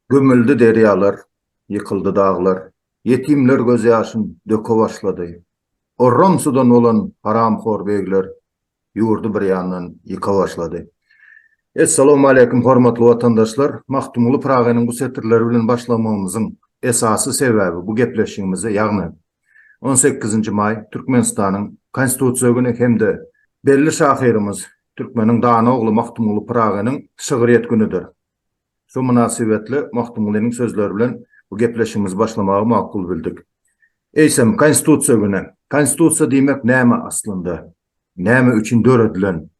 Gömüldi derýalar, ýykyldy daglar, Ýetimler gözýaşyn döke başlady. Orran sudan bolan haramhor begler Ýurdy bir ýandan ýyka başlady. Essalawmaleýkim hormatly watandaşlar! Magtymguly Pyragynyň bu setirleri bilen başlamagymyzyň esasy sebäbi bu gepleşigimize, ýagny On sekizinji maý Türkmenistanyň Konstitusiýa güni hem-de belli şahyrymyz, türkmeniň dana ogly Magtymguly Pyragynyň şygryýet günüdir. Şu mynasybetli Magtymgulynyň sözleri bilen bu gepleşigimizi başlamagy makul bildik. Eýsem, Konstitusiýa güni. Konstitusiýa diýmek näme aslynda? Näme üçin döredilen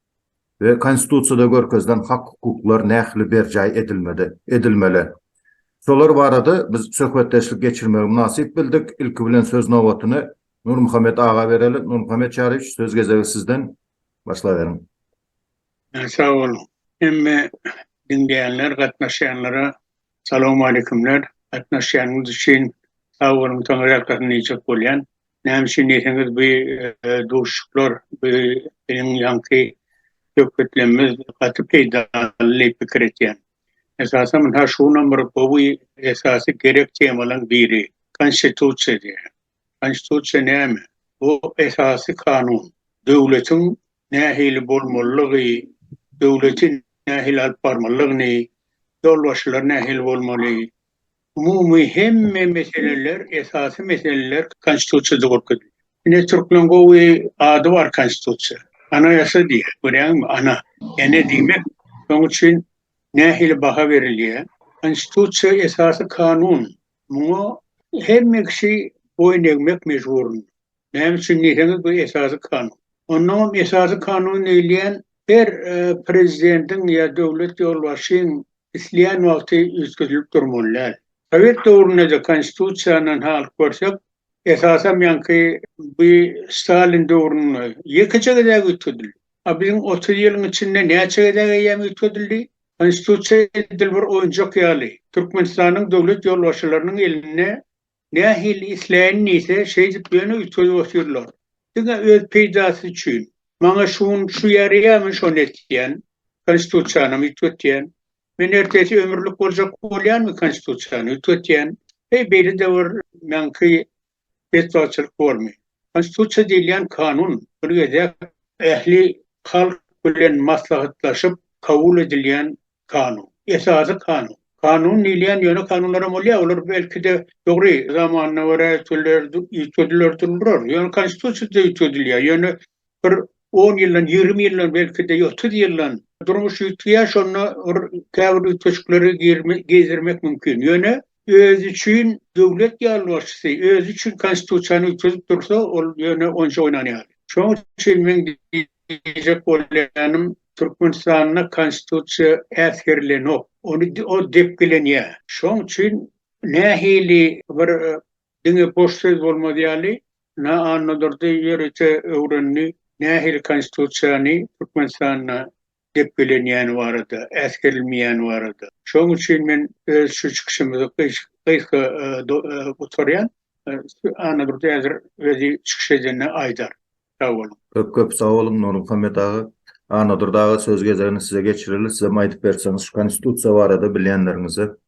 we Konstitusiýada görkezilen hak-hukuklar nähili berjaý edilmedi, edilmeli? Şolar barada biz söhbetdeşlik geçirmegi mynasyp bildik. Ilki bilen söz nobatyny Nurmuhammet aga bereli. Nurmuhammet Çaryýewiç, söz gezegi sizden. Başlaberiň. Sag boluň. Hemme diňleýänler, gatnaşýanlara Salowmaleýkumler, gatnaşýanyňyz üçin sag boluň soň ýatgysyny diýjek bolýan. Näme üçin diýseňiz bu duşuşyklar bu biziň ýaňky söhbetlemimiz gaty peýdaly diýip pikir etýän. Esasan ynha şu günam bir gowy esasy gerek temalaň biri konstitusiýa diýýän. Konstitusiýa näme? Bu esasy kanun. Döwletiň nähili bolmalygy, döwleti nähili alyp barmalygyny, ýolbaşçylar nähili bolmaly, umumy hemme meseleler, esasy meseleler Konstitusiýada görkezilýär. Ine, türkmen gowy ady bar Konstitusiýa. Anayasa diýýär, görýäňmi, ana, ene diýmek. Şoň üçin nähili baha berilýär? Konstitusiýa esasy kanun. Muňa hemme kişi boýun egmek mejburynda. Näme üçin diýseňiz, bu Esasy Kanun. Onnoň hem Esasy Kanun öýleýän, her prezidentiň ýa döwlet ýolbaşçyň isleýän wagty üýtgedilip durmaly däl. Sowet döwründe-de Konstitusiýadan halyp görsek, esasam ýaňky bu Stalin döwründe ýekeje gezek üýtgedildi. A biziň otuz ýylyň içinde näçe gezek eýýäm üýtgedildi? Konstitusiýa edil bir oýunjak ýaly, Türkmenistanyň döwlet ýolbaşçylarynyň elinde Nähili isleýin diýse, şeýdip ýöne üýtgedip otyrlar. Diňe öz peýdasy üçin. Maňa şu gün şu ýaraýamy, şony et diýýän. Konstitusiýanam üýtget diýýän. Men ertesi ömürlik boljak bolýanmy Konstitusiýany üýtget diýýän. Heý, beýle-de bir meňki betbagtçylyk bormy? Konstitusiýa diýilýän kanun, bir gezek ähli halk bilen maslahatlaşyp kabul edilýän Kanun. Esasy kanun. Kanun diýilýän ýöne kanunlaram bolýar, olar belki-de dogry zamanyna görä üýtgediler, üýtgediler dururlar. Ýöne konstitusiýada üýtgedilýär. Ýöne bir on ýyldan, ýigrimi ýyldan belki-de otuz ýyldan durmuş üýtgeýär, şonda bir käbir üýtgeşikleri girme, girizirmek mümkin. Ýöne Özi üçin döwlet ýolbaşçysy, özi üçin konstitusiýany üýtgedip dursa, ol ýöne onça oýnan ýaly. Şoň üçin meň diýjek bolýanym, Türkmenistanda konstitusiýa äsgerilenok. Ony ol depgilenýär. Şoň üçin nähili bir diňe boş söz bolmaz ýaly, Na Annadurdy ýörite öwrendi, nähili konstitusiýany Türkmenistanda depgelenýäni barada, äsgerilmeýäni barada. Şonuň üçin men öz şu çykyşymyzy gysga gutarýan. Annadurdy häzir özi çykyş edende aýdar. Sag boluň. Köp-köp sag boluň, Nurmuhammet aga. Annadurdy aga söz gezegini size geçireris. Sizem aýdyp berseňiz şu Konstitusiýa barada bilýänleriňize.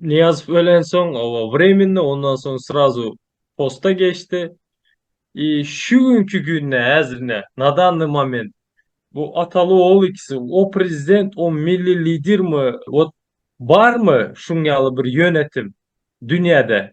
Nyýazow ölensoň, oba wremenny, ondan soň srazu posta geçdi. I şu günki günde häzirine, na danny moment, bu ataly-ogul ikisi, o prezident, o milli lidermi, wot barmy şuň ýaly bir ýönetim dünýäde?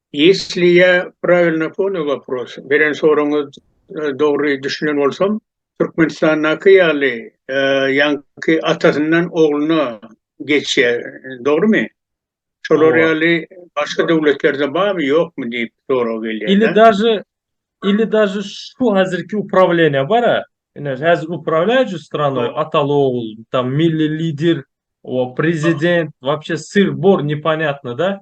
Ýesli ýa prawilno poňýa wopros, beren soragyňyz dogry düşünen bolsam, Türkmenistandaky ýaly ýaňky atasyndan ogluna geçýä, dogrymy? Şolar ýaly başga döwletlerde barmy, ýokmy diýip sorag gelýä da. Ili daže, ili daže şu hazirki uprawleniýa bara, ine hazir uprawlýajuj stranoý ataly ogul, tam milli lidir, o prezident, wapşe syrh bor neponýatno da.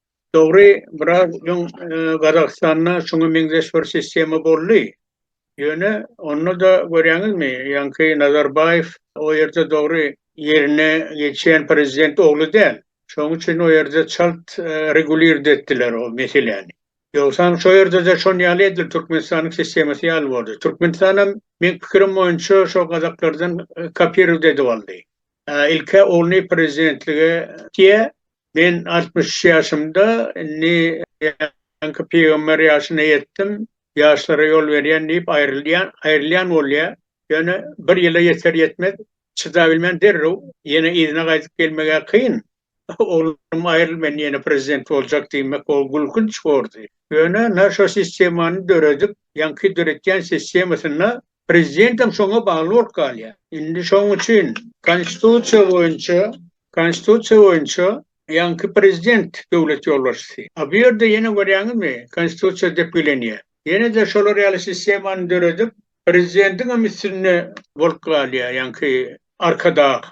Dogry, biraz öň Gazagystanda şuňa meňzeş bir sistema boldy. Ýöne onda-da görýäňizmi, ýaňky Nazarbaýew o ýerde dogry ýerine geçýän prezident ogly däl. Şoň üçin o ýerde çalt regulirdi etdiler o meseläni. Ýogsam şo ýerde-de şon ýaly edil Türkmenistanyň sistemasy ýaly boldy. Türkmenistanam meň pikirim boýunça şo gazaklardan kopirowt edip aldy. Ilk-ä ogluny prezidentlige diýýä, Men altmyş üç ýaşymda, indi ýaňky pygamber ýaşyna ýetdim, ýaşlara ýol berýän diýip aýrylýan, aýrylýan bolýar. Ýöne bir ýyla ýeter-ýetmez çydabilmän derrew ýene yzyna gaýdyp gelmeg-ä kyn. Oglum aýryl men ýene prezident boljak diýmek ol gülkünç bordy. Ýöne naşo sistemany döredip, ýaňky döretýän sistemasynda Prezidentem şoňa bagly bolup galýar. Indi şoň üçin Konstitusiýa boýunça, Konstitusiýa boýunça ýaňky prezident döwlet ýolbaşçysy. A bu ýerde ýene görýäňizmi, Konstitusiýa depgilenýär. Ýene-de şolar ýaly sistemany döredip, prezidentiňem üstünde bolup galýar ýaňky arkadag.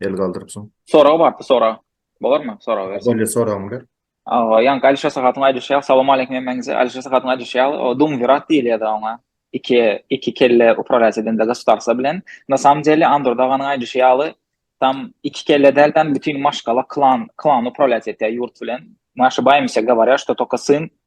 El galdyrypsyň. Sorag bardy sorag. Bolarmy sorag berse? Bolýa soragyňy ber. Awa, ýaňky Ali Şasahatyň aýdyşy ýaly, salam aleýkum hemmäňize. Ali Şasahatyň aýdyşy ýaly, o dumvirat diýilýärdi oňa. Iki, iki kelle upralýas edende goswtarstwa bilen. Na samym deli Andro daganyň aýdyşy ýaly, tam iki kelle däl tam bütin maşgala, klan, klan upralýas etýär ýurt bilen. Naşi baýmyşa gawarýa, što toko syn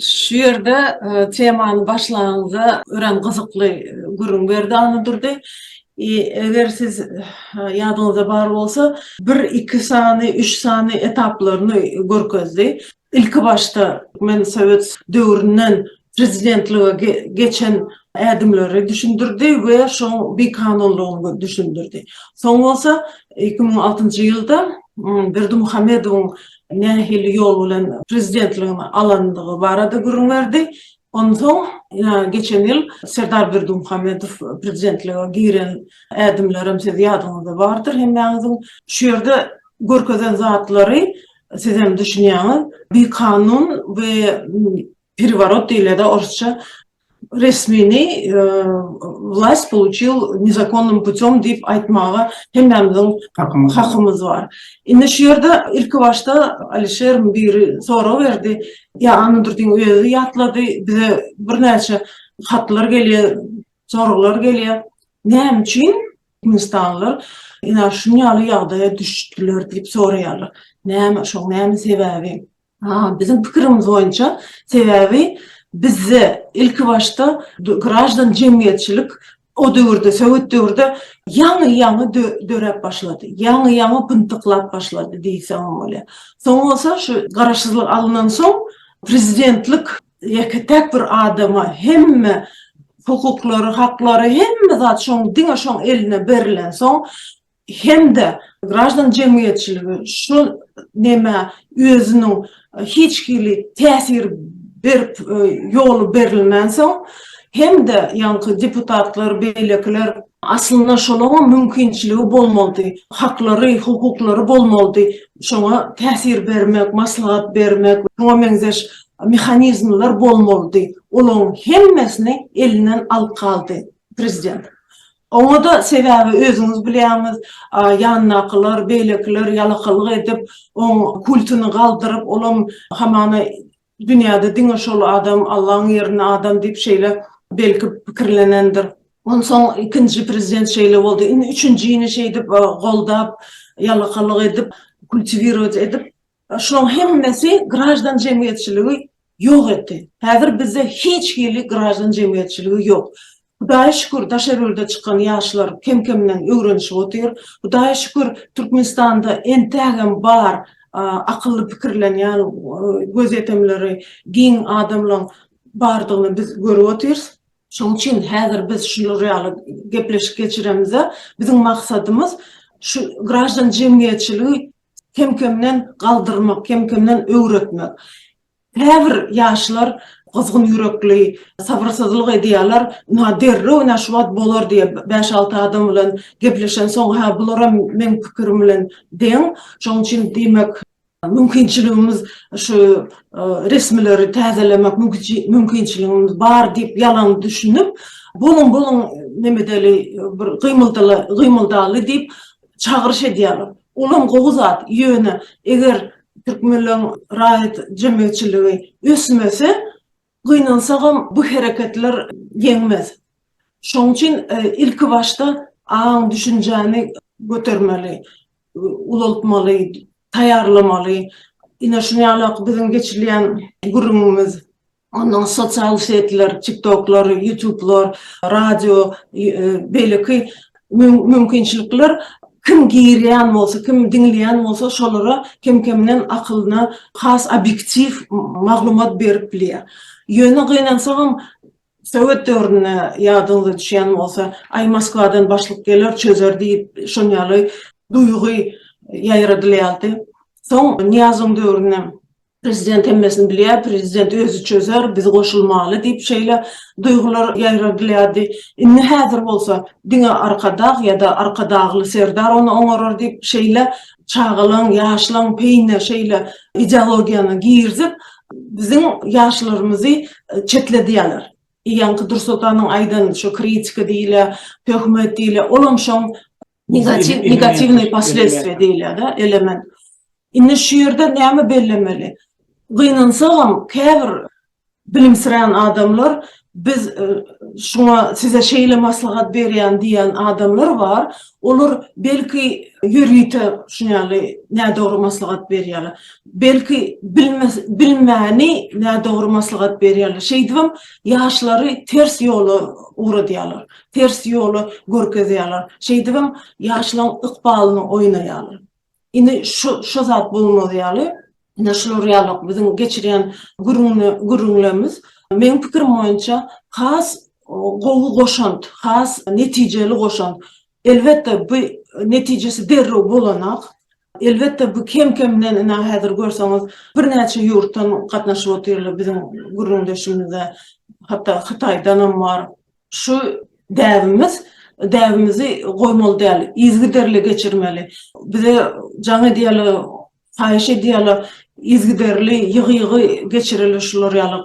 Şu ýerde temany başlanyňda örän gyzykly gürrüň berdi Annadurdy. Eger siz ýadyňyzda bar bolsa, bir, iki sany, üç sany etaplaryny görkezdi. Ilki başda men sowet döwründen prezidentlige geçen ädimleri düşündirdi we şoň bikanunlygyny düşündirdi. Soň bolsa iki müň altynjy ýylda Berdimuhamedowyň nähili ýol bilen prezidentligini alandygy barada gürrüň berdi. Onsoň geçen ýyl Serdar Berdimuhamedow prezidentlige giren ädimlerem siz ýadyňyzda bardyr hemmäňiziň. Şu ýerde görkezen zatlary sizem düşünýäňiz. Bikanun we pereworot diýilýärdi orusça. resmini wlast pouçil nezakonnym putem diýip aýtmaga hemmämiziň hakymyz bar. Indi şu ýerde ilki başda Alişeriň biri sorag berdi, ýa Annadurdyň özi ýatlady, bize birnäçe hatlar gelýär, soraglar gelýär, näme üçin türkmenistanlylar ynha şuny ýaly ýagdaýa düşdüler diýip soraýarlar. Näme şoň näme sebäbi? Biziň pikirimiz boýunça, sebäbi bizde ilki başda graždan jemgyýetçilik o döwürde, sowet döwürde ýaňy-ýaňy döräp başlady, ýaňy-ýaňy pyntyklap başlady diýseňem bolýar. Soň bolsa şu garaşsyzlyk alnan soň prezidentlik ýeke-täk bir adama hemme hukuklary, haklary, hemme zat şoň diňe şoň eline berilensoň, hem-de graždan jemgyýetçiligi şu nämä özüniň hiç hili täsir berip ýoly berilmänsoň hem-de ýaňky deputatlar beýlekiler, aslynda şolaňam mümkinçiligi bolmalydy, haklary, hukuklary bolmalydy, şoňa täsir bermek, maslahat bermek we şuňa meňzeş mehanizmler bolmalydy, olaň hemmesini elinden alyp galdy prezident. Oňa-da sebäbi özüňiz bilýäňiz, ýanyndakylar, beýlekiler ýalakalyk edip, oň kultyny galdyryp, olam hamana dünýäde diňe şol adam, Allaň ýerine adam diýip şeýle belki pikirlenendir. Onsoň ikinji prezident şeýle boldy, indi üçünjini şeýdip goldap, ýalakalyk edip, kultiwirować edip, Şulaň hemmesi graždan jemgyýetçiligi ýok etdi. Häzir bizde hiç hili graždan jemgyýetçiligi ýok. Hudaýa şükür, Daşergülde çykan ýaşlar kem-kemden öwrenişip otyr. Hudaýa şükür, Türkmenistanda entägem bar akylly pikirlenýän, gözýetimleri giň adamlaň bardygyny biz görüp otyrys. Şoň üçin häzir biz şular ýaly gepleşik geçiremizde, biziň maksadymyz şu graždan jemgyýetçiligi Kem-kemden galdyrmak, kem-kemden öwretmek. Käbir ýaşlar gyzgyn ýürekli, sabyrsyzlyk edýärler, ynha derrew ynha şu wagt bolar diýip, bäş-alty adam bilen gepleşensoň, hä, bularam meň pikirim bilen deň. Şonuň üçin, diýmek, mümkinçiligimiz şu resmileri täzelemek mümkinçiligimiz bar diýip ýalan düşünip, boluň, boluň, nemedeli, bir gymyldaly diýip, çagyryş edýärler. Olam gowy zat, ýöne eger türkmenleň raýat jemgyýetçiligi ösmese, gynansagam bu hereketler ýeňmez. Şoň üçin ilkibaşda aň-düşünjäni götermeli, ulaltmaly, taýýarlamaly. Ine şunuň ýaly-ak biziň geçilýän gürrüňimiz Onda sosial setler, tiktoklar, ýutublar, radio, beýleki mümkinçilikler kim girýän bolsa, kim diňleýän bolsa, şolara kem-kemden akylyna has obýektiw maglumat berip bilýär. Ýöne gynansagam, sowet döwründe ýadyňyza düşýän bolsa, Aý, Moskwadan başlyk geler, çözer diýip, şonýaly duýgy ýaýradylýardy. Soň Nyýazowyň döwründe Prezident hemmesini bilýär, prezident özi çözer, biz goşulmaly diýip şeýle duýgular ýaýradylýardy. Indi häzir bolsa diňe Arkadag ýa-da Arkadagly serdar ony oňarar diýip şeýle çagalaň, ýaşlaň peýine şeýle ideologiýany girizip, biziň ýaşlarymyzy çetledýärler. Ýaňky Dursultanyň aýdan şu kritika diýilýä, töhmet diýilýä, olam şoň. Negatiw, negatiwny posledstwie diýilýär-de, element. Indi şu ýerde näme bellemeli? Gynansagam, käbir bilimsirän adamlar biz e, şuňa size şeýle maslahat berýän diýen adamlar bar. Olar belki ýörite şuny ýaly nädogry maslahat berýärler. Belki bilmes, bilmäni nädogry maslahat berýärler. Şeýdibem ýaşlary ters ýola ugradýarlar. Ters ýoly görkezýärler. Şeýdibem ýaşlaň ykbalyny oýnaýarlar. Indi şu şu zat bolmaz ýaly, ine şular ýaly biziň geçirýän gürrüňli gürrüňlerimiz meň pikirim boýunça has gowy goşant, has netijeli goşant. Elbetde bu netijesi derrew bolanok. Elbetde bu kem kemden ine häzir görseňiz birnäçe ýurtdan gatnaşyp otyrlar biziň gürrüňdeşimizde hatda Hytaýdanam bar. Şu däbimiz, däbimizi goýmaly däl, yzgiderli geçirmeli. Bize jaň edýärler, haýyş edýärler, yzgiderli, ýygy-ýygy geçireli şular ýaly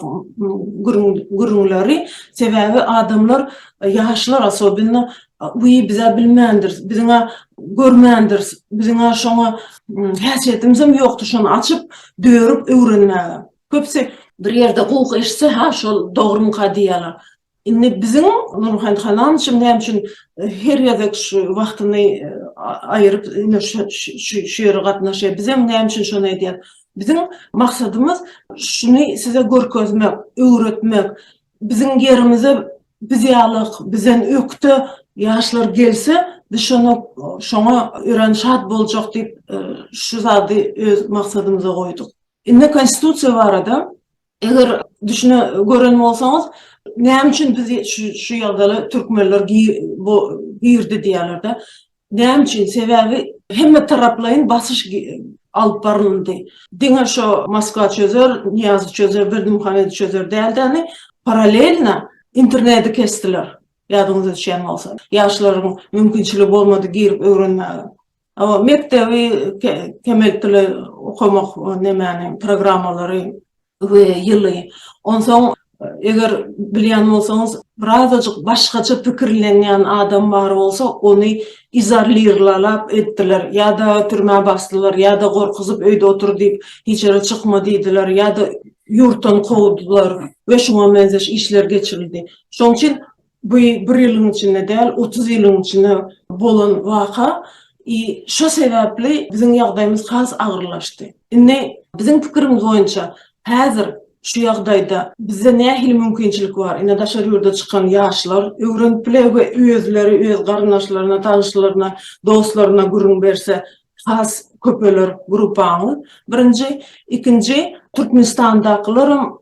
gürrüň, gürrüňleri. Sebäbi adamlar, ýaşlar osobenno, wiý, biz-ä bilmändiris, biziň-ä görmändiris, biziň-ä şoňa häsiýetimizem ýokdur şony açyp, dörüp öwrenmäge. Köpüsi bir ýerde gowuk eşitse, ha şol dogrumyka diýýärler. Indi biziň Nurmuhammet halam üçin näme üçin her gezek şu wagtyny aýyryp şu ýere gatnaşýar, bizem näme üçin şony edýäris? Biziň maksadymyz şuny size görkezmek, öwretmek. Biziň ýerimize biz ýaly bizden ökde ýaşlar gelse, biz şony şoňa örän şat boljak diýip, şu zady öz maksadymyza goýduk. Indi konstitusiýa barada eger düşüne gören bolsaňyz näme üçin biz şu ýagdaýa türkmenler bu girdi diýýärlerde näme üçin sebäbi hemme taraplaýyn basyş alyp baryldy diňe şo moskwa çözer niýazy çözer berdimuhamedi çözer däldeni paralelna interneti kesdiler ýadyňyza düşýän bolsa ýaşlaryň mümkinçiligi bolmady girip öwrenmäge Hawa, mekdebi kemeltili okamak nemäniň programmalary we ýyly. Onsoň eger bilýän bolsaňyz, birazajyk başgaça pikirlenýän adam bar bolsa, ony izarlirlalap etdiler, ýa-da türmä basdylar, ýa-da gorkuzyp öýde otur diýip, hiç ýere çykma diýdiler, ýa-da ýurtdan kowdular we şuňa meňzeş işler geçirildi. Şoň üçin Bu bir ýylyň içinde däl, otuz ýylyň içinde bolan waka i şo sebäpli biziň ýagdaýymyz has agyrlaşdy. Indi biziň pikirimiz boýunça häzir şu ýagdaýda bizde nähili mümkinçilik bar? Ine daşary ýurda çykan ýaşlar öwrenip biler we özleri öz garyndaşlaryna, tanyşlaryna, dostlaryna gürrüň berse has köpeler gruppaňyz. Birinji, ikinji Türkmenistandakylaram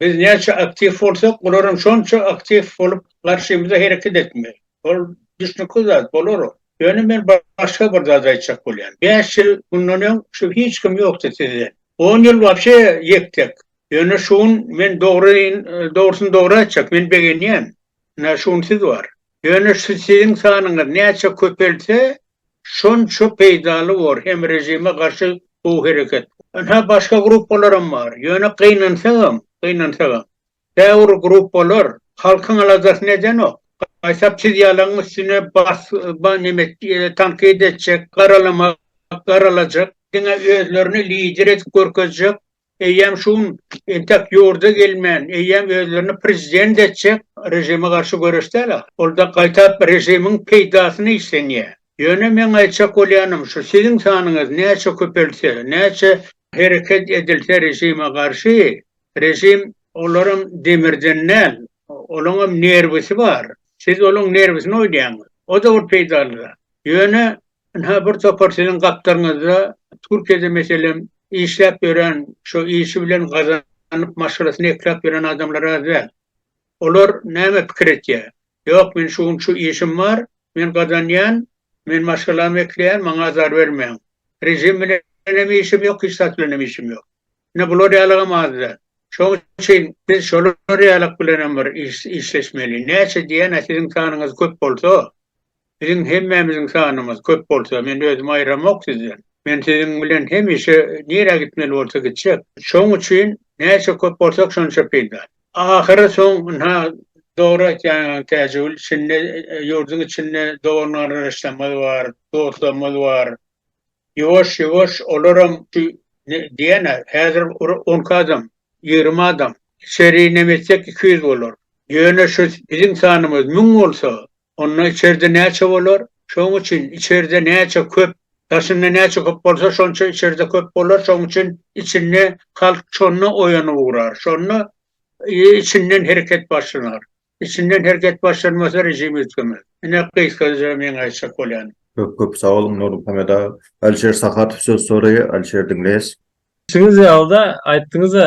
Biz näçe aktiw bolsak, olaram şonça aktiw bolup, garşymyza hereket etmeli. Ol düşnükli zat, bolar ol. Ýöne men başga bir zat aýtjak bolýan. Bäş ýyl mundan öň şu hiç kim ýokdy sizden. On ýyl wapşe ýek-tek. Ýöne şu gün men dogryny dogry aýtjak, men begenýän. Ynha şu gün siz bar. Ýöne şu siziň sanyňyz näçe köpelse, Şonça peýdaly bor hem režime garşy gowy hereket. Ynha başga gruppalaram bar. Ýöne gynansagam, gynansagam. Käbir gruppalar halkyň aladasyny edenok. Gaýtap siz ýalaň üstüne bas ba neme tankyt etjek, garalamak, garalajak. Diňe özlerini lider edip görkezjek Eýýäm şu gün entek ýurda gelmän, eýýäm özlerini prezident etjek režime garşy göreş däl ahyry. Ol-da gaýtap režimiň peýdasyna işlenýär. Ýöne meň aýtjak bolýanym şu, siziň sanyňyz näçe köpelse, näçe hereket edilse režime garşy, režim olaram demirden däl, olaňam nerwisi bar. Siz olaň nerwisini oýnaýaňyz. O-da bir peýdaly zat. Ýöne Ynha, bir topar siziň gapdalyňyzda Türkiýede, meselem, işläp ýören, şo işi bilen gazanyp, maşgalasyny ekläp ýören adamlar az däl. Olar näme pikir etýär? Ýok, men şu gün şu işim bar, men gazanýan, men maşgalamy ekleýän, maňa azar bermäň. Režim bilen hem işim ýok, hiç zat bilen hem işim ýok. Ine, bular ýalyam az däl. Şonuň üçin biz şolar ýalak bilenem bir işleşmeli. Näçe diýen-ä siziň sanyňyz köp bolsa, Biziň hemmämiziň sanymyz köp bolsa, men özümi aýramok sizden. Men siziň bilen hemişe nirä gitmeli bolsa gitjek. Şoň üçin näçe köp bolsak şonça peýda. Ahyry soň ynha dogry aýtýaň Täjigül içinde ýurduň içinde dogan gardaşlarymyz bar, dostlarymyz bar. Ýuwaş ýuwaş olaram şu diýýänä häzir on iki adam, ýigrimi adam. Içeri inemetsek iki ýüz bolar. Ýöne şu biziň sanymyz müň bolsa Onda içerde näçe bolar? Şoň üçin içerde näçe köp, daşynda näçe köp bolsa şonça içerde köp bolar, şoň üçin içinde halk şonda oýanyp ugrar, şonda içinden hereket başlanar. Içinden hereket başlanmasa režim üýtgemez. Ine gysgaça meň aýtjak bolýanym. Köp köp sag boluň Nurmuhammet aga. Alişer Sahatow söz soraýar, Alişer diňleýäs. Siziň ýaly-da aýtdyňyz-a,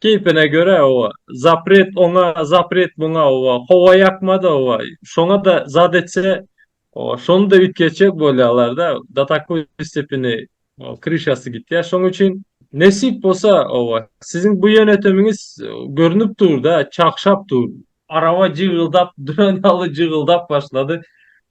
Keýpine görä oba, zapret oňa, zapret muňa oba, howa ýakmady oba, şoňa-da zat etse, oba, şony-da üýtgetjek bolýarlar-da, do takoý stepeni, oba, kryşasy gitýär. Şoň üçin, nesip bolsa, oba, siziň bu ýönetimiňiz görnüp dur-da, çagşap dur. Araba jygyldap duran ýaly jygyldap başlady.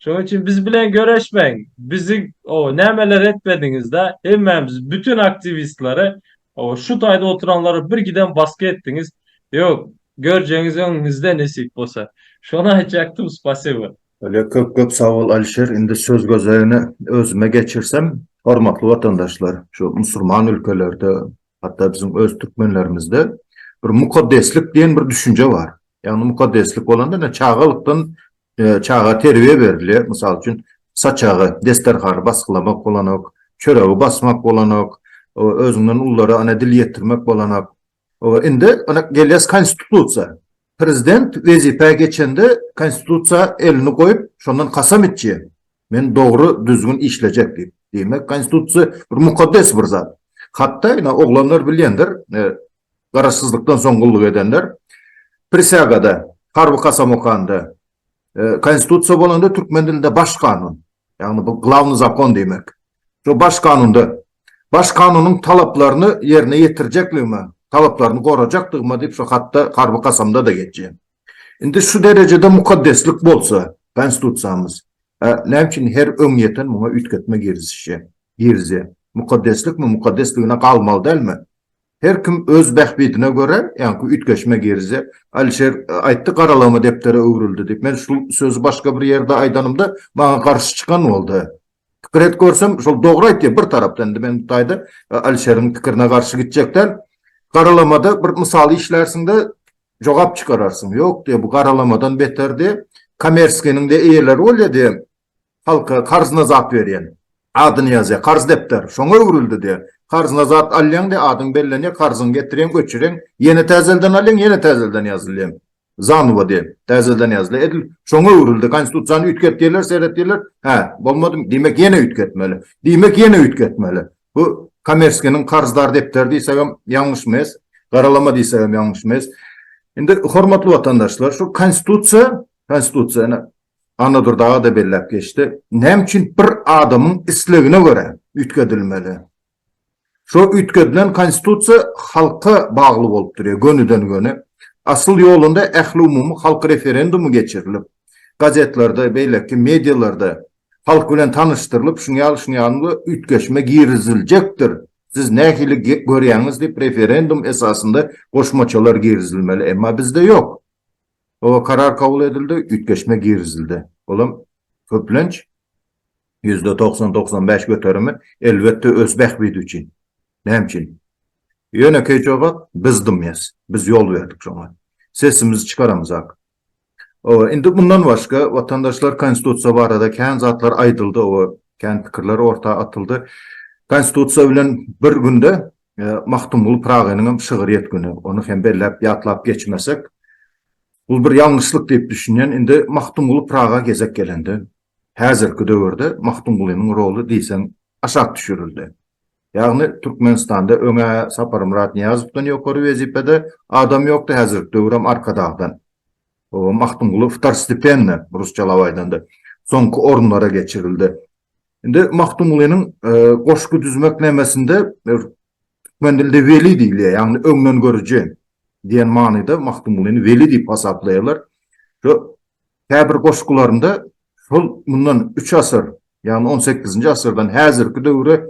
Şoň üçin biz bilen göreşmäň, bizi, oba, nämeler etmediňiz-dä, hemmämizi, bütin aktiwistlary Hawa şu taýda oturanlara bir gidem baska etdiňiz. Ýok, görjegiňiz öňüňizde nesip bolsa. Şony aýtjakdym spasibo. Öle köp köp sag bol Alişer, indi söz gözegini özüme geçirsem, hormatly watandaşlar, şu musurman ülkelerde, hatda biziň öz türkmenlerimizde bir mukaddeslik diýen bir düşünje bar. Ýagny mukaddeslik bolanda ine çagalykdan Çaga terbiýe berilýär, mysal üçin, saçagy, desterhany basgylamak bolanok, çöregi basmak bolanok, özüňden ululara ene dil ýetirmek bolanok. Indi ene gelýäs konstitusiýa. Prezident wezipä geçende konstitusiýa elini goýup, şondan kasam içýär. Men dogry, düzgün işlejek diýip. Diýmek, konstitusiýa bir mukaddes bir zat. Hatda ene oglanlar bilýändir, Garaşsyzlykdan soň gulluk edenler prisýagada, harby kasam okanda, Konstitusiýa bolanda türkmen dilinde Baş kanun, ýagny bu glawnyý zakon diýmek. Şo Baş kanunda Baş kanunyň talaplaryny ýerine ýetirjekligime, talaplaryny gorajakdygyma diýip şo hatda, harby kasamda-da geçýär. Indi şu derejede mukaddeslik bolsa Konstitusiýamyz, näme üçin her öňýeten muňa üýtgetme girizişýär, girizýär? Mukaddeslikmi, mukaddesligine galmaly dälmi? Her kim öz bähbidine görä ýaňky üýtgeşmä girizýär. Alişer aýtdy, Garalama depdere öwrüldi diýip. Men şul sözi başga bir ýerde aýdanymda, maňa garşy çykan boldy. Pikir et görsem, şol dogry aýtýar bir tarapdan. Indi men bu taýda Alişeriň pikirine garşy gitjek däl. Garalamada bir mysal işlärsiň-de, jogap çykararsyň. Ýok diýýär, bu garalamadan beter diýýär. Kommersiýanyň-da eýeleri bolýar diýýär. Halka karzna zat berýän. Adyny ýazýar. Karz depder. Şoňa öwrüldi diýýär. Karzna zat alýaň diýýär. Adyň bellenýär. Karzyňy getirýäň, öçürýäň. Ýene täzelden alýaň, ýene täzelden ýazylýaň. Zanowa diýýär. Täzelden ýazylýar. Edil şoňa öwrüldi. Konstitusiýany üýtget diýerler, seret diýerler. Hä, bolmadymy? Diýmek, ýene üýtgetmeli. Diýmek, ýene üýtgetmeli. Bu Komerskiniň karzdar depderi diýsegem ýalňyş mes. Garalama diýsegem ýalňyş mes. Indi, hormatly watandaşlar, şu Konstitusiýa, Konstitusiýa, ine, Annadur dagy-da belläp geçdi. Näme üçin bir adamyň islegine görä üýtgedilmeli? Şo üýtgedilen Konstitusiýa halka bagly bolup durýar, gönüden-göni. Asyl ýolunda ähliumumy halk referendumy geçirilip, gazetlerde, beýleki medialarda halk bilen tanyşdyrylyp, şuňa ýaly, şuňa ýaly üýtgeşme giriziljekdir, siz nähili görýäňiz diýip, referendum esasynda goşmaçalar girizilmeli. Emma bizde ýok. Oba karar kabul edildi, üýtgeşme girizildi. Olam köplenç ýüzde togsan, togsan bäş göterimi, elbetde, öz bähbidi üçin. Näme üçin? Ýönekeý jogap, biz dymýas. Biz ýol berdik şoňa. Sesimizi çykaramzak. Oba, indi mundan başga, watandaşlar, Konstitusiýa barada kän zatlar aýdyldy, oba, kän pikirler orta atyldy. Konstitusiýa bilen bir günde Magtymguly Pyragynyň hem şygyr ýetgini, ony hem belläp ýatlap geçmesek, bul bir ýalňyşlyk diýip düşünýän. Indi Magtymguly Pyraga gezek gelende, häzirki döwürde Magtymgulynyň roly diýseň aşak düşürildi. Ýagny Türkmenistanda öň-ä Saparmyrat Nyýazowdan ýokary wezipede adam ýokdy, häzirki döwür hem Arkadagdan. Magtymguly Iftar stipendine, rusçalap aýdanda, soňky orunlara geçirildi. Indi Magtymgulynyň goşgy düzmek nemesinde türkmen dilinde weli diýilýär, ýagny öňdengörüji diýen manyda Magtymgulyny weli diýip hasaplaýarlar. Şu käbir goşgularynda şol mundan üç asyr, ýagny on sekizinji asyrdan häzirki döwre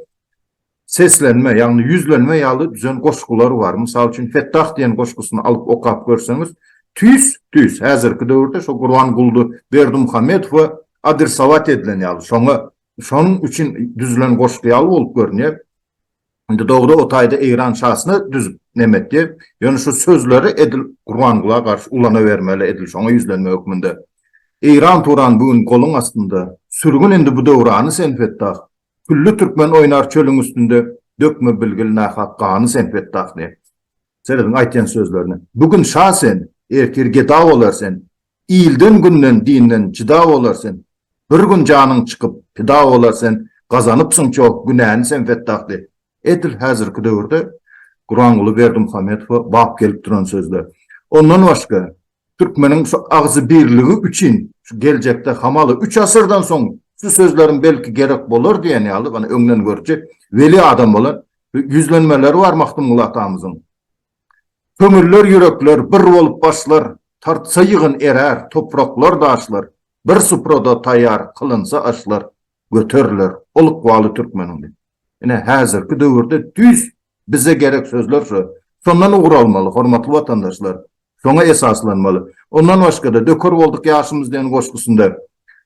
seslenme, ýagny ýüzlenme ýaly düzen goşgular bar. Mysal üçin, Fettah diýen goşgusyny alyp okap görseňiz, tüýs, tüýs, häzirki döwürde şo Gurbanguly Berdimuhamedow we adresowat edilen ýaly, şoňa, şonuň üçin düzülen goşgy ýaly bolup görünýär. Indi dogry o taýda Eýran şasyna düzüp nem etdi. Ýöne şu sözleri edil Gurbangula garşy ulanabermeli, edil şoňa ýüzlenme hökmünde. Eýran-Turan bu gün goluň astynda. Sürgün indi bu döwrany sen Fettah. Külli türkmen oýnar çölüň üstünde, Dökme bilgil nahak gany sen Fetdah diýen. Serediň aýtýan sözlerine. Bu gün şa sen, ertir geda bolar sen, Ilden, günden, dinden jyda bolar sen, Bir gün janyň çykyp pida bolar sen, Gazanypsyň çoh günäni sen Fetdah diýen. Edil häzirki döwürde Guranguly Berdimuhamedowa bap gelip duran sözler. Ondan başga, Türkmeniň şu agzybirligi üçin şu geljekde hamaly üç asyrdan soň şu sözleriň belki gerek bolar diýen ýaly ony öňden görüji weli adam bolan ýüzlenmeleri bar Magtymguly atamyzyň. Köňüller ýürekler bir bolup başlar, tartsa ýygyn erär topraklar daşlar, bir suprada taýýar kylynsa aşlar, göteriler, ol ykbaly türkmeniňdi. Ine, häzirki döwürde düýs bize gerek sözler şo. Şondan ugur almaly, hormatly watandaşlar, şoňa esaslanmaly. Ondan başga-da, Döker bolduk ýaşymyz diýen goşgusynda,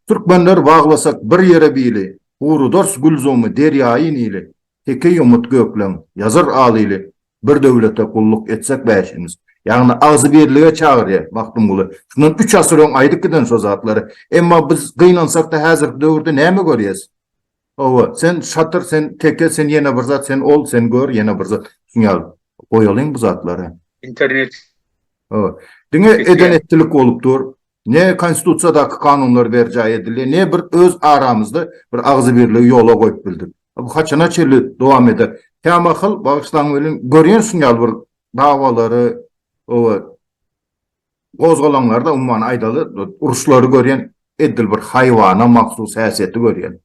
Türkmenler baglasak bir ýere bili, Gurudars gülzumy, derýaýy Nili. Teke ýomut gökleň, ýazar al ili, Bir döwlete gulluk etsek bäşimiz. Ýagny agzybirlige çagyrýa Magtymguly. Şundan üç asyr öň aýdyp giden şo zatlary. Emma biz gynansakda häzirki döwürde näme görýäs? Hawa, sen şatyr, sen teke, sen ýene bir zat, sen ol, sen gör, ýene bir zat. Şuň ýaly. Goýalyň bu zatlary. Internet. Hawa. Diňe eden etdilik bolup dur. Ne konstitusiýadaky kanunlar berjaý edildi, ne bir öz aramyzda bir agzybirligi ýola goýup bildik. Bu haçana çenli dowam eder? Kämahal, bagyşlaň welin, görýän şun ýaly bir dawalary we gozgalaňlary-da, umuman aýdaly, uruşlary görýän, edil bir haýwana mahsus häsiýeti görýän.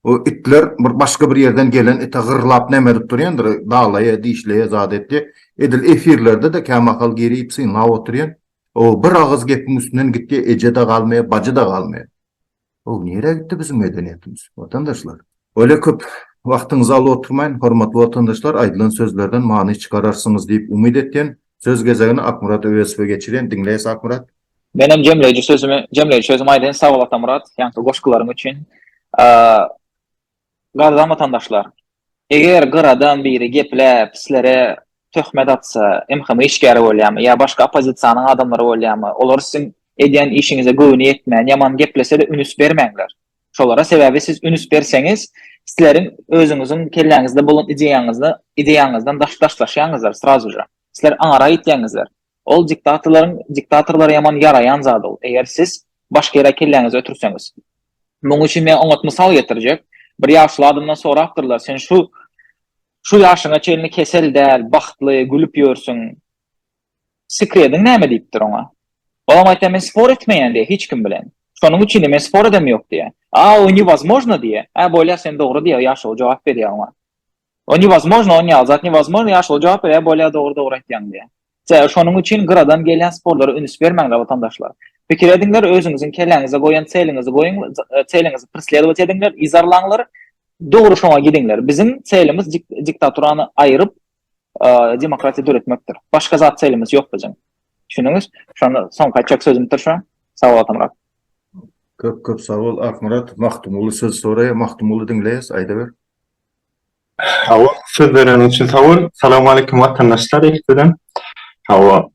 Bu itler bir başga bir ýerden gelen ite gyrlap näme edip durýandyr, dalaýa, dişleýä, zat etýä. Edil efirlerde-de kämahal girip synlap oturýan. O bir agyz gepiň üstünden gitdi, eje-de galmaýar, bajy-da galmaýar. O nirä gitdi biziň medeniýetimiz, watandaşlar? Öýle köp wagtyňyzy alyp oturmaýyn, hormatly watandaşlar, aýdylan sözlerden many çykararsyňyz diýip umyt etýän. Söz gezegini Akmyrat Öwezowa geçirýän, diňleýäs Akmyrat. Menem jemleýji sözümi jemleýji sözümi aýdaýyn, sag bol Atamyrat, ýaňky goşgularyň üçin. Gazan watandaşlar! Eger gyradan biri gepläp, sizlere töhmet atsa, MHM işgäri bolýamy ýa başga oppozisiýanyň adamlary bolýamy, olar siziň edýän işiňize göwni ýetmän, ýaman geplese-de ünüs bermäňler. Şolara, sebäbi siz ünüs berseňiz, sizleriň özüňiziň kelläňizde bolan ideýaňyzdan daşlaşýaňyzlar srazuja. Sizler aňara ýitýäňizler. Ol diktatorlaryň diktatorlara ýaman ýaraýan zady ol. Eger siz başga ýere kelläňizi ötürseňiz. Munuň üçin men oňat mysal getirjek. Bir ýaşuly adamdan sorapdyrlar, sen şu şu ýaşyňa çenli kesel däl, bagtly, gülüp ýörsüň. Sekrediň näme diýipdir oňa. Ol oňa aýtýar, men spor etmeýän diýýär hiç kim bilen. Şonuň üçin-de men spor edem ýok diýýär. A o newozmojno diýýär. Hä bolýar sen dogry diýýär ýaşuly jogap berýär oňa. O newozmojno on ýaly zat newozmojno ýa şol jogap berýär bolýa dogry dogry aýtýaň diýýär. Sebäbi şonuň üçin gyradan gelýän sporlara ünüs bermäňler watandaşlar. Pikir ediňler özüňiziň kelläňize goýan çeliňizi goýuň çeliňizi preslewat ediňler yzarlaňlar dogry şoňa gidiňler biziň çelimiz diktaturany aýyryp demokratiýa döretmekdir. Başga zat çelimiz ýok biziň. Düşündüňiz? Şonda soňky aýtjak sözümdir şu. Sag bol Atamyrat. Köp köp sag bol Akmyrat. Magtymguly söz soraýa, Magtymguly diňleýäs, aýdaber. Hawa, söz bereniň üçin sag bol. Salam aleýkum watandaşlar ilkiden. Hawa,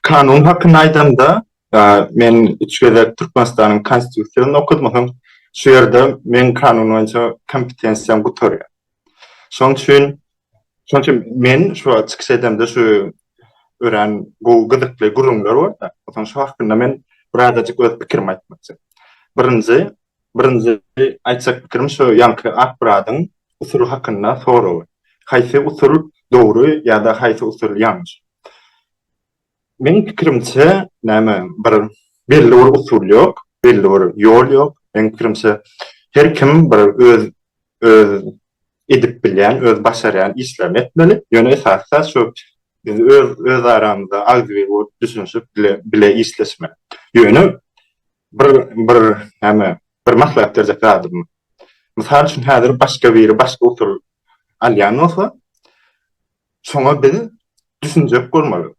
kanun hakynda aýdanda, men üç gezek Türkmenistanyň Konstitusiýasyny okadym, soň şu ýerde meň kanun boýunça kompetensiýam gutarýar. Şonuň üçin, şonuň üçin men şu wagt çykyş edemde şu örän gowy gyzykly gürrüňler bar-da, soň şu hakynda men birazajyk öz pikirimi aýtmakçy. Birinji, Birinji aýtjak pikirim şu ýaňky Akmyradyň usuly hakynda soragy. Haýsy usul dogry ýa-da haýsy usul ýalňyş? Meň pikirimçe, näme bir belli bir usul ýok, belli bir ýol ýok. Meň pikirimçe, her kim bir öz öz edip bilýän, öz başarýan işlerini etmeli. Ýöne esasy zat şu biz öz öz aramyzda agzybir bolup düşünişip bile bile işleşmeli. Ýöne Bir bir näme bir maslahat berjek zadym. Mysal üçin häzir başga biri başga usul alýan bolsa, şoňa biz düşünjek bolmaly.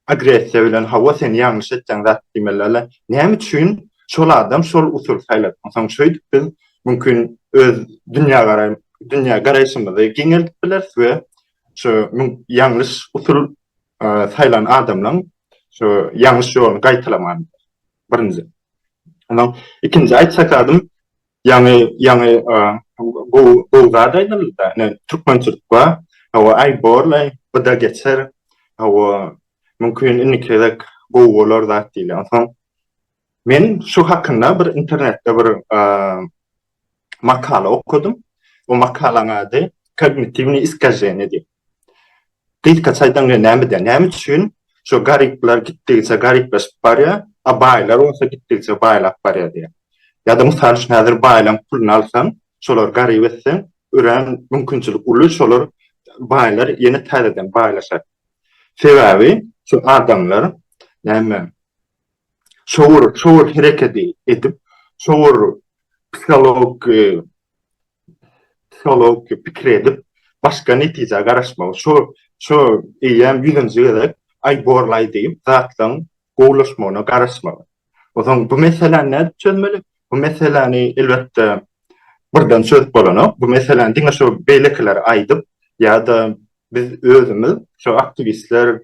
Agressiýa bilen hawa sen ýalňyş etýäň zat diýmelilä. Näme üçin şol adam şol usuly saýlady? Onsoň şeýdip biz mümkin öz dünýägaraý dünýä garaýşymyzy giňeldip bileris we şu ýalňyş usul saýlan adamlaň şu ýalňyş ýoluny gaýtalaman. Birinji. Ondan ikinji aýtjak adym ýaňy ýaňy gowy gowy zat aýdyldy-da. Ine türkmençilik bar. Hawa aý borlaý, bu-da geçer. Hawa mümkin indiki gezek gowy bolar zat diýilýär. Onsoň men şu hakynda bir internetde bir makala okadym. Bu makalaň ady Kognitiwni iskajeni diýip. Gysga çaýdan we näme diýýär? Näme üçin şu garyplar gitdigiçe garyplaşyp barýar, a baýlar bolsa gitdigiçe baýlap barýar diýýär. Ýa-da mysal üçin häzir baýlaň puluny alsaň, şolary garyp etseň, örän mümkinçilik uly şolar baýlar ýene täzeden baýlaşar. Sebäbi şu adamlar näme şowur şowur herekedi edip, şowur psihologiki psiholog pikir edip, başga netijä garaşmagy, şo, şo eýýäm ýüzünji gezek, aý borlaý diýip, zatlaryň gowulaşmagyna garaşmagy. O soň bu meseläni nädip çözmeli? Bu meseläni, elbetde, birden çözüp bolanok. Bu meseläni diňe şo beýlekilere aýdyp ýa-da biz özümiz, şo aktiwistler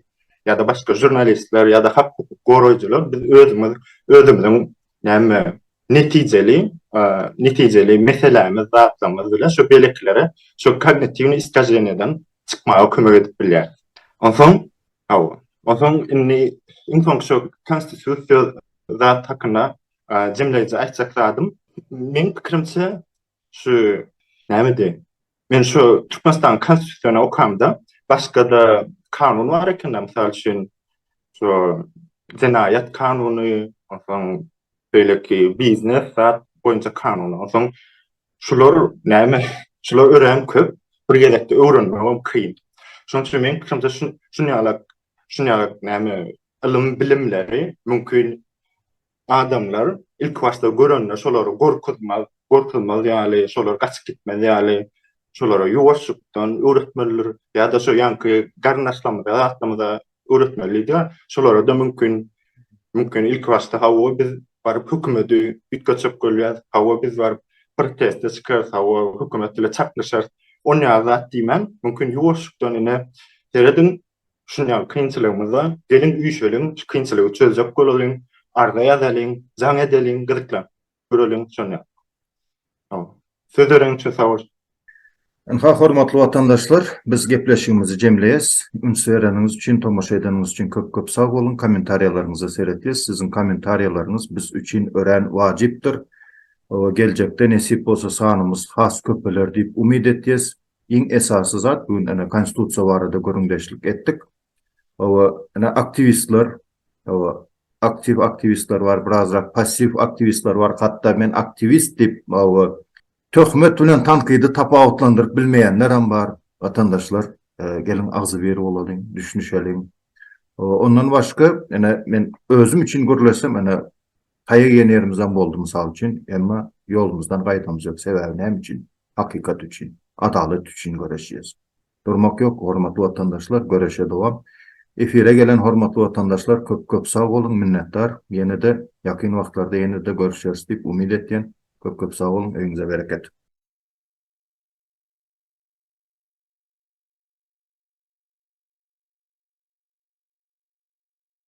ýa-da başga žurnalistler ýa-da hak-hukuk goraýjylar biz özümiz, özümiziň Näme netijeli, netijeli meselämiz, zatlarymyz bilen şu beleklere, şu kognitiwni iskaženýadan çykmaga kömek edip bilýäris. Onsoň, hawa, onsoň indi iň soňky şu konstitusiýa zat hakynda jemleýji aýtjak zadym, meň pikirimçe, Şu nämedi? Men şu Türkmenistanyň Konstitusiýasyny okamda, başga-da kanun bar eken-de, mysal üçin, şu jenaýat kanuny, onsoň beýleki biznes zat boýunça kanun. Onsoň şular näme? Şular örän köp, bir gezekde öwrenmegem kyn. Şonuň üçin meniň pikirimçe şun şun ýaly şun ýaly näme ylym bilimleri mümkin Adamlar ilki başda görende şolary gorkuzmaz, gorkuzmaz ýaly, şolar gaçyp gitmez ýaly, şolara ýuwaşjykdan öwretmelidir. Ýa-da şo ýaňky garyndaşlarymyza, zatlarymyza öwretmelidigi. Şolara-da mümkin, mümkin ilki başda hawa biz baryp hökümeti üýtgetjek bolýarys, hawa biz baryp proteste çykarys, hawa hökümet bile çaknyşarys. Onýa zat diýmän, mümkin ýuwaşjykdan ine serediň, Şu ýaly kynçylygymyzda geliň üýşeliň, şu kynçylygy çözjek bolalyň, arza ýazalyň, jaň edeliň, gyzyklap göreliň şon ýaly. Hol. Söz berenim üçin sag bol. Ynha hormatly watandaşlar biz gepleşigimizi jemleýäs. Üns bereniňiz üçin, tomaşa edeniňiz üçin köp köp sag boluň. Kommentariýalaryňyza seretýäs. Siziň kommentariýalaryňyz biz üçin örän wajypdyr. Geljekde nesip bolsa sanymyz has köpeler diýip umyt etýäs. Iň esasy zat bu gün ene konstitusiýa barada gürrüňdeşlik etdik. Oba ene aktiwistler, oba aktiw aktiwistler bar, birazrak passiw aktiwistler bar. Hatda men aktiwist diýip, oba töhmet bilen tankydy tapawutlandyryp bilmeýänler hem bar. Watandaşlar, geliň agzybir bolalyň, düşünişeliň. Ondan başga, ene men özüm üçin gürleşsem, ene Taýak iýen ýerimizem boldy mysal üçin, emma ýolumyzdan gaýdamyz ýok, sebäbi näme üçin? Hakykat üçin, adalat üçin göreşýäs. Durmak ýok, hormatly watandaşlar, göreşe dowam. Efire gelen hormatly watandaşlar köp köp sag boluň, minnetdar. Ýene-de ýakyn wagtlarda ýene-de görüşeris diýip umyt etýän. Köp köp sag boluň, öýüňize bereket.